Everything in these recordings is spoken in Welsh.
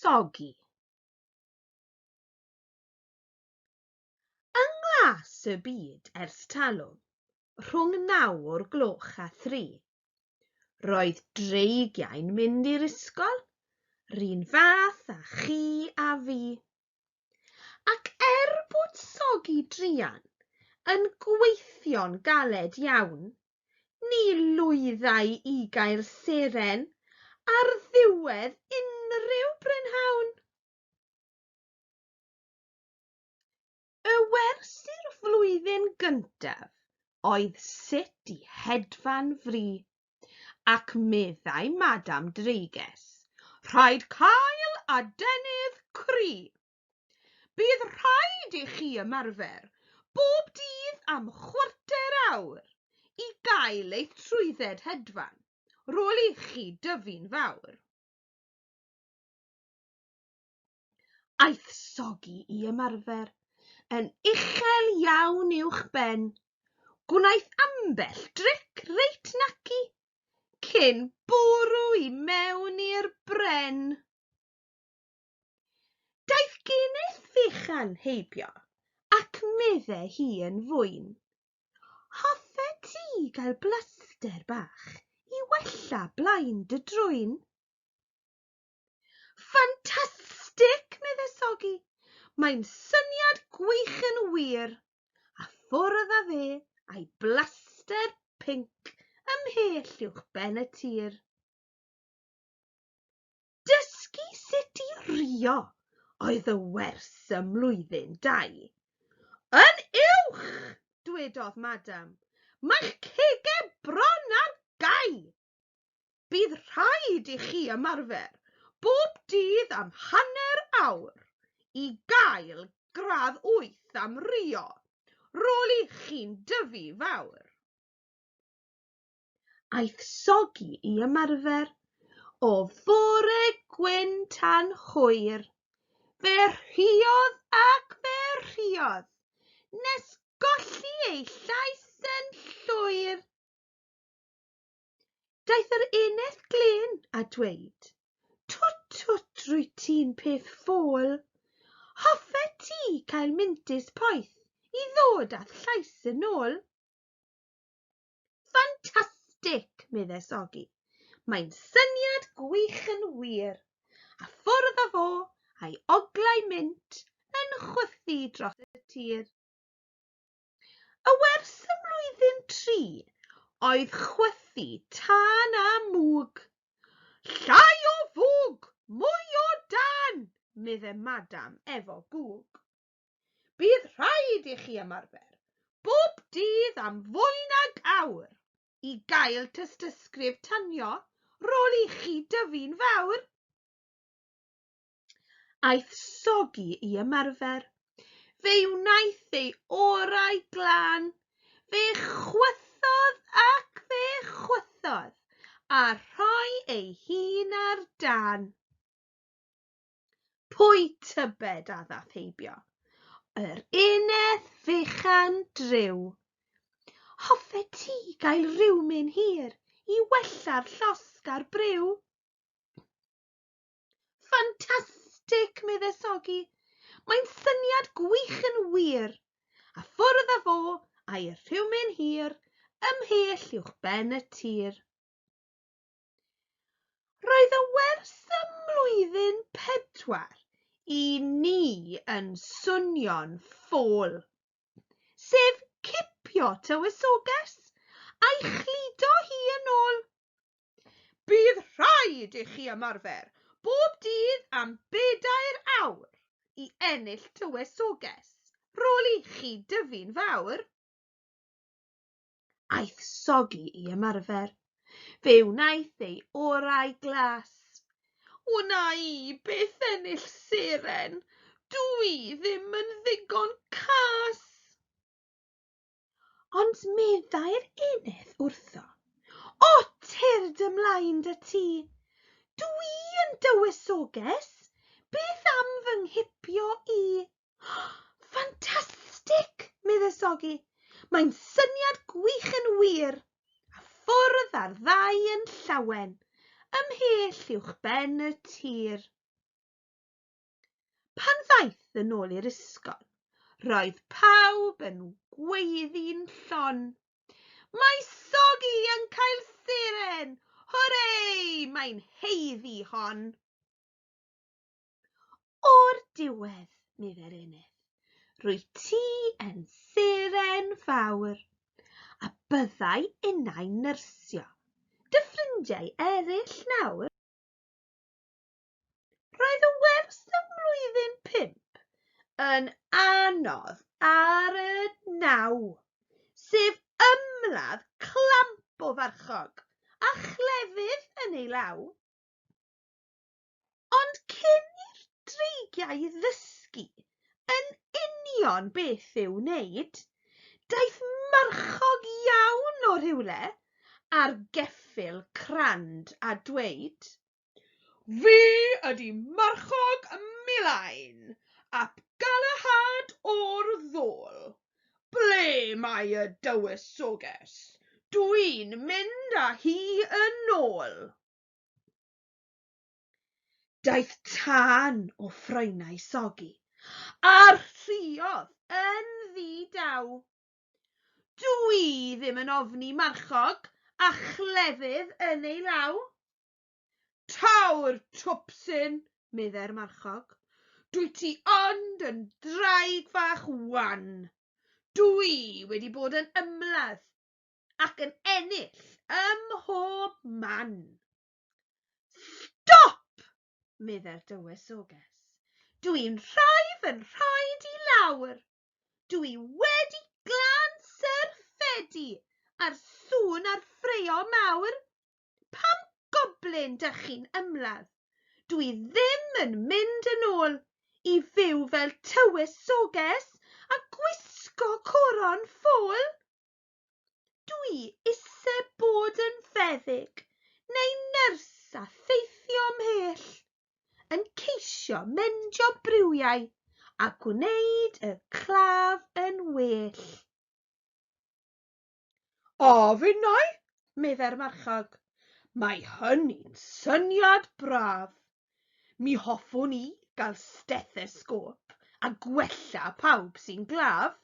Soggy. Yng nglas y byd ers talwm, rhwng naw o'r gloch a thri, roedd dreigiau'n mynd i'r ysgol, run fath a chi a fi. Ac er bod sogi druan yn gweithio'n galed iawn, ni lwyddai i gael seren ar ddiwedd unrhyw brynhawn. Y wers i'r flwyddyn gyntaf oedd sut i hedfan fri. ac meddai Madam Dreiges, Rhaid cael adenydd cry. Bydd rhaid i chi ymarfer bob dydd am chwarter awr i gael eich trwydded hedfan rôl ichi dyfu'n fawr. Aeth Sogi i ymarfer yn uchel iawn uwch ben. Gwnaeth ambell dric reit naci cyn bwrw i mewn i'r bren. Daeth geneth fechan heibio ac medde hi yn fwyn, Hoffe ti gael blaster bach i wella blaen dy drwyn? Ffantastig! medde Sogi. Mae'n syniad gwych yn wir. A ffwrdd â fe a'i blaster pinc ymhell uwch ben y tir. Dysgu sut i rio oedd y wers ym mlwyddyn dau. Yn uwch! dwedodd Madam. Mae'ch cegau bron ar gau! Bydd rhaid i chi ymarfer bob dydd am hanner awr i gael gradd wyth am Rio, roli chi'n dyfu fawr. Aeth Sogi i ymarfer o fore gwyn tan hwyr, fe rhiodd ac fe rhiodd, nes golli ei llais yn llwyr. Daeth yr eneth glên a dweud, Twt, twt, rwy ti'n peth ffôl. Hoffet ti cael mintus poeth i ddod â'th llais yn ôl? Ffantastig, meddes Ogi. Mae'n syniad gwych yn wir. A ffwrdd â fo a'i oglau mint yn chwythu dros y tir. A wers y flwyddyn tri, oedd chwythu tân a mwg. Llai o fwg, mwy o dân! medde Madam efo gwg. Bydd rhaid i chi ymarfer bob dydd am fwy nag awr i gael tystysgrif tanio rôl i chi dyfu'n fawr. Aeth Sogi i ymarfer. Fe wnaeth ei orau glân. Fe chwythodd ac fe chwythodd, a rhoi ei hun ar dan. Pwy tybed a ddath heibio? Yr uned fechan driw. Hoffet ti gael rhywmyn hir i wella'r llosg a'r briw? Ffantastig! medde Sogi. Mae'n syniad gwych yn wir. A ffwrdd â fo a'i rhywmyn hir ymhell uwch ben y tir. Roedd y wers ym mlwyddyn pedwar i ni yn swnio'n ffôl, sef cipio tywysoges a'i chludo hi yn ôl. Bydd rhaid i chi ymarfer bob dydd am bedair awr i ennill tywysoges rôl i chi dyfu'n fawr. Aeth Sogi i ymarfer. Fe wnaeth ei orau glas. Wna i byth ennill seren, dw i ddim yn ddigon cas! Ond meddai'r eneth wrtho, O tyrd ymlaen da ti! Dw i yn dywysoges, beth am fy nghipio i? Ffantastig! medde Sogi. Mae'n syniad gwych yn wir! A ffwrdd â'r ddau yn llawen, ymhell uwchben y tir. Pan ddaeth yn ôl i'r ysgol, roedd pawb yn gweiddi'n llon. Mae Sogi yn cael seren! Hwrê! Mae'n haeddu hon! O'r diwedd, meddai'r Eneth, rwyt ti yn seren fawr, a byddai innau'n nyrsio dy ffrindiau eraill nawr. Roedd y wers ym mlwyddyn pump yn anodd ar y naw, sef ymladd clamp o farchog a chlefydd yn ei law. Ond cyn i'r dreigiau ddysgu yn union beth i'w wneud, daeth marchog iawn o rhywle ar geffyl crand a dweud, Fi ydi marchog Milain ap Galahad o'r ddôl. Ble mae y dywysoges? Dwi'n mynd â hi yn ôl. Daeth tân o ffroenau sogi a rhuodd yn ddi-daw. Dw i ddim yn ofni marchog a chlefydd yn ei law. Taw'r twpsyn, meddai'r marchog. Dwyt ti ond yn ddraig fach wan. Dw i wedi bod yn ymladd ac yn ennill ym mhob man. Stop! meddai'r dywysoges. Dw i'n rhoi fy nhraed i lawr. Dw i wedi glan syrffedi a'r sŵn a'r ffraeo mawr Pam goblin dych chi'n ymladd? Dw i ddim yn mynd yn ôl i fyw fel tywysoges a gwisgo coron ffôl. Dw i ise bod yn feddyg neu nyrs a theithio mhell, yn ceisio mendio briwiau a gwneud y claf yn well. O, finnau, meddai'r marchog, mae hynny'n syniad braf. Mi hoffwn i gael stethesgôp a gwella pawb sy'n glaf.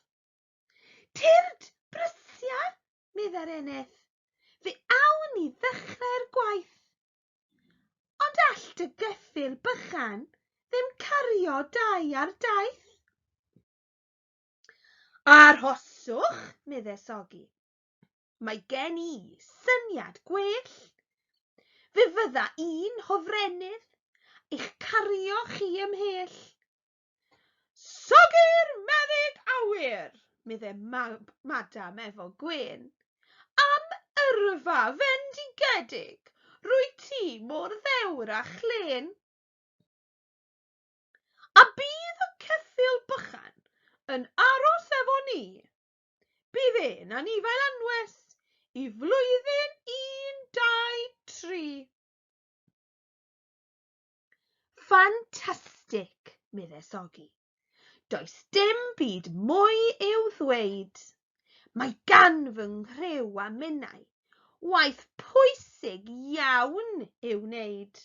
Tyrd, Brysia, meddai'r eneth, fe awn ni ddechrau'r gwaith. Ond all dy geffyl bychan ddim cario dau ar daith. Arhoswch, medde Sogi. Mae gen i syniad gwell. Fe fydda i'n hofrennydd eich cario chi ymhell. Sogi'r meddyg awyr, medde Mab Madam efo gwên. Am yrfa fendigedig, rwyt ti mor ddewr a chlên. A bydd y ceffyl bychan yn aros efo ni? Bydd e'n anifail anwes i flwyddyn un, dau, tri. Ffantastig, medde Sogi. Does dim byd mwy i'w ddweud. Mae gan fy nghriw a minnau waith pwysig iawn i'w wneud.